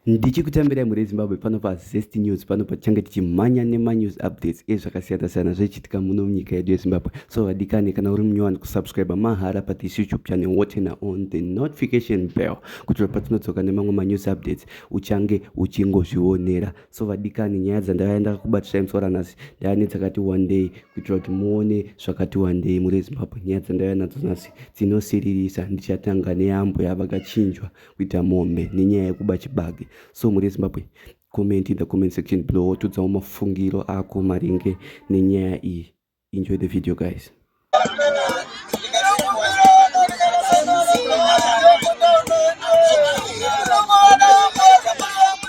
ndichikutambirai mhuri yezimbabwe pano pazest news pano patichange tichimhanya nemanews updates ezvakasiyana-siyana zvichiitika muno munyika yedu yezimbabwe so vadikane kana uri munyowani kusubscribe mahara pathis youtube channel wotena on the notification bell kuti patinodzoka nemamwe manews updates uchange uchingozvionera so vadikane nyaya dzandavaya ndakakubatisai musi waranhasi ndava nedzakati wandei kuitira kuti muone zvakati wandei mhuri yezimbabwe nyaya dzandavaya nadzo nhasi dzinosiririsa ndichatanga neyambo yavakachinjwa kuita mombe nenyaya yekuba chibage so mhuri yezimbabwe comment in the comment section below wotudzawo mafungiro ako maringe nenyaya iyi enjoy the video guys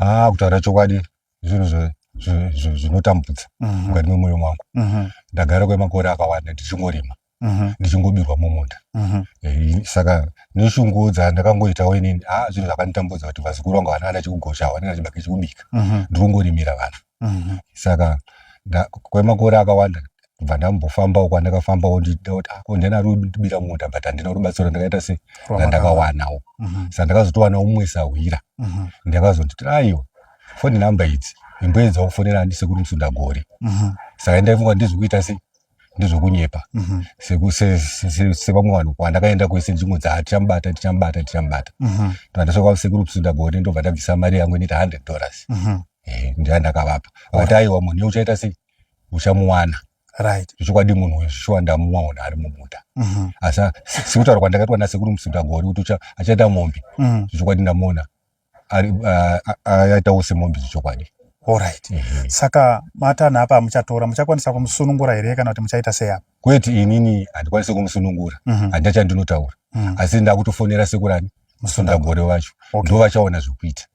Ah, kutaura chokwadi zvinhu zve zvinotambudza mhm. mukati memoyo mangu mhm. ndagara kwemakore akawanda ndichingorima mhm. ndichingobirwa mumunda mhm. eh, saka neshungudza ndakangoitawo inini a ah, zvinhu zvakanditambudza kuti vazukuru vangu vana vana chikugosha hwana nachibaka chikubika mhm. ndikungorimira vana saka kwemakore akawanda bva ndambofambawo kwandakafambawo ndichida kuti ako ah, ndina rubira munda but handina rubatsiro ndakaita se randakawanawo sa ndakazotowana umwe sahwira ndakazonditi aiwa foni namba idzi imboedzawo kufonera handisekuru musundagore saka ndaifunga ndizvikuita sei ndizvokunyepa mhm. sevamwe vanhu kwandakaenda kwese nzvimbo dzaa tichamubata tichamubata tichamubata mhm. ndandasvika kwasekuru kusinda gore ndobva ndabvisa mari yangu inoita hundred dollars mhm. eh, ndaa ndakavapa vakati aiwa munhu uchaita sei uchamuwana right zvechokwadi munhu uyu shuwa ndamuwaona ari mumuta asi sekutaura kwandakaitwa nasekuru musinda gore kuti achaita mombe zvechokwadi ndamuona ari aitawo semombe zvechokwadi Alright. Mm -hmm. Saka matanha apa muchatora muchakwanisa kumusunungura here kana kuti muchaita sei apa? Kwete inini handikwanisi kumusunungura. Mm -hmm. Handina chandinotaura. Mm -hmm. Asi ndakutofonera sekurani musundagore wacho. Okay. Ndoo vachaona zvekuita.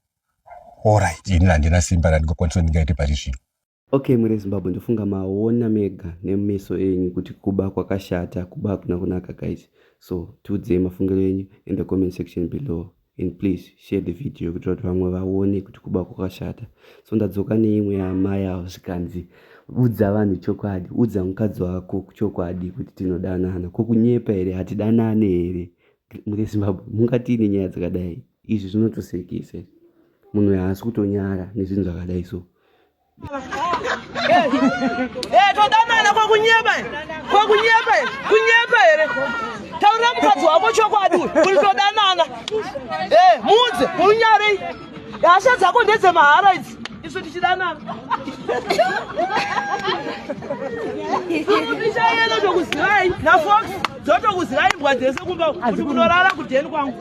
Alright. Ini handina simba randingakwanisa ndingaite pari zvino. Okay muri eZimbabwe ndofunga maona mega nemeso enyu kuti kuba kwakashata kuba hakuna kunaka guys so tiudzei mafungiro enyu in the comment section below and please share the video kuitira kuti vamwe vaone kuti kuba kwakashata so ndadzoka neimwe yamai avo zvikanzi udza vanhu chokwadi udza mukadzi wako chokwadi kuti tinodanana ko kunyepa here hatidanane here muri eZimbabwe mungatiine nyaya dzakadai izvi zvinotosekese munhu haasi kutonyara nezvinhu zvakadai so todanana kwakunyeba kwakunyeba kunyeba here taurira mukadzi wako chokwadi kuti todanana muudze unyarei hasha dzako ndedzemahara idzi isu tichidanana ichayena tokuzivai nafox dzotokuzivai mbwa dzese kumba kuti kunorara kudheni kwangu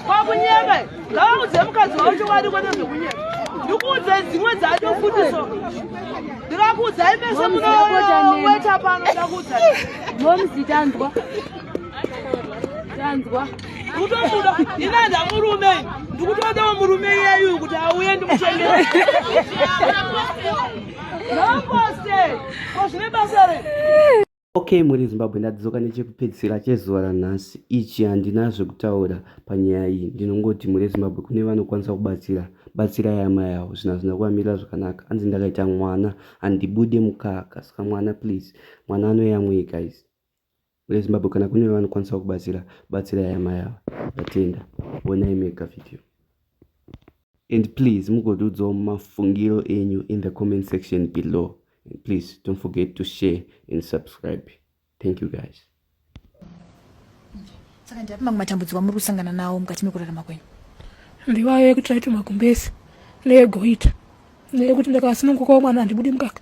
kwakunyeba ngavaudze mukadzi wavo chokwadi kwete zvekunyeba ndikuudzai dzimwe dzacho futi so ndikakuudzai mese munoweta pano ndakuudzai momzi tanzwa tanzwa kutomuda inanda murume ndikutodawo murume iyeyu kuti auye ndikuchengera noposte ko zvine basa re Okay muri Zimbabwe ndadzoka nechekupedzisira chezuva ranhasi ichi handina zvekutaura panyaya iyi ndinongoti muri Zimbabwe kune vanokwanisa kubatsira batsira yama yawo zvinhu hazvina kuvamirira zvakanaka hanzi ndakaita mwana handibude mukaka saka mwana please mwana anoyamwei guys muri Zimbabwe kana kune vanokwanisa kubatsira batsira yama yawo ndatenda onai mega video and please mugotiudzawo mafungiro enyu in the comment section below and please don't forget to share and subscribe thank you guys saka ndiapi mamwe matambudziko amuri kusangana nawo mukati mekurarama kwenyu ndiwayo yekuti taiti magumbezi neyegoita neyekuti ndakasunungukawo mwana handibudi mukaka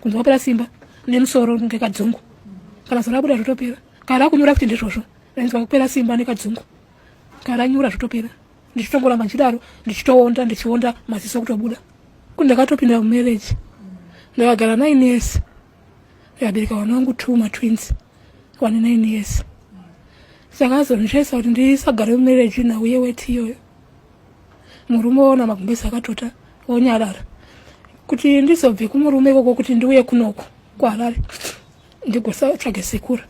kunze kwapera simba nemusoro kunge kadzungu kana zora kuda zvotopera kana rakunyura kuti ndizvozvo rainzwa kupera simba nekadzungu kana ranyura zvotopera ndichitongoramba ndichidaro ndichitoonda ndichionda maziso kutobuda kuti ndakatopinda mumarriage ndakagara nine years ndikabereka vana vangu two matwins wane nine years saka azondichaisa kuti ndisagare mumarriage na uye weti iyoyo murume woona magumbezi akatota wonyarara kuti ndizobve kumurume ikoko kuti ndiuye kunoko kuharare ndigosatsvage sekura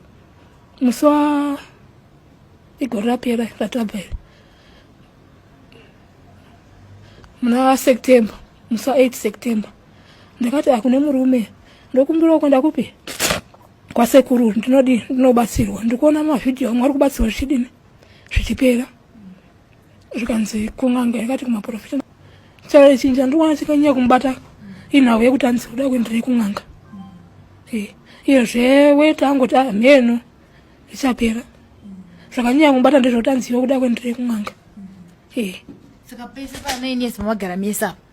musi wa igore rapera ratabva iri muna september musi wa 8 september ndakati akune murume ndokumbirawo kwenda kupi kwasekuru ndinodi ndinobatsirwa ndikuona mavhidhiyo amwe ari kubatsirwa zvichidini zvichipera zvikanzi kun'anga yakati kumaprofita chai chinji andikuona chikanyanya kumubata inhau yekuti anzi kuda kuenderei kun'anga iyezve weta angoti ah, mheno ichapera zvakanyanya kumubata ndezvekuti anziwe kuda kuenderei kun'anga saka pese panoinesi mamagara mese apa